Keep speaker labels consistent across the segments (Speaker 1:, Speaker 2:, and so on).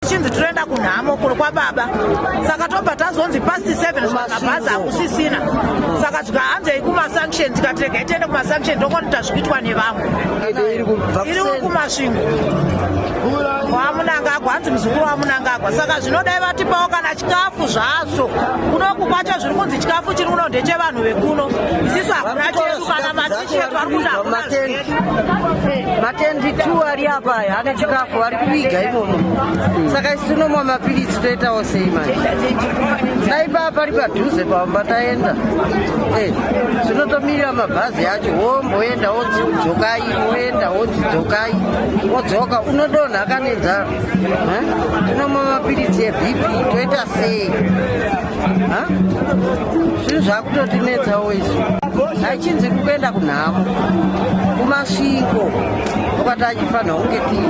Speaker 1: chinzi tinoenda kunhamo kuno kwababa saka tobva tazonzi past seven saka bhazi hakusisina saka tika hanzei kumasanction tikatirega itiende kumasanction ndokonita zvikuitwa nevamwe iri kumasvingo wamunangagwa hanzi muzukuru wamunangagwa saka zvinodai vatipawo kana chikafu zvazvo kunoku kwacho zviri kunzi chikafu chiri kuno ndechevanhu vekuno isisu hakuna chedu kana mati matendi
Speaker 2: two ari apa aya ane chikafu ari kuviga imomo saka isi tinomwa mapiritsi toitawo sei manje dai paa pari padhuze pamba taenda eh, zvinotomirira mabhazi acho womboenda wodzidzokai woenda wodzidzokai wodzoka unodonha kanenzaro eh, tinomwa mapiritsi ebp toita sei zvinhu zvakutotinetsawo izvi achinzi kuenda kunhamo kumasvingo ukati achifanira kunge tii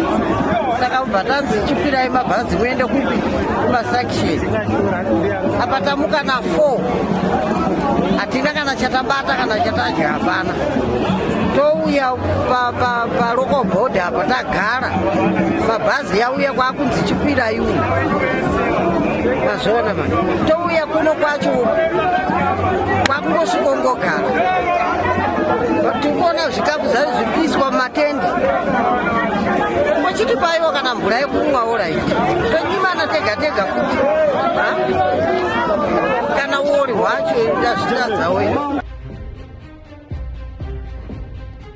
Speaker 2: saka kubva tanzi chikwirai mabhazi muende kupi kumasaction apa tamuka na four hatina kana chatabata kana chatadya hapana touya paloko bhodha apa tagara mabhazi yauya kwakunzi chikwira iwu mazviona ma touya kuno kwacho kwakungosvikongogara tikuona zvikafu zvayo zvikuiswa mumatende kochitipaiwa kana mvura yekumwawo raiti tonyimana tega tega kuti kana uori hwacho ndazvitiradzawo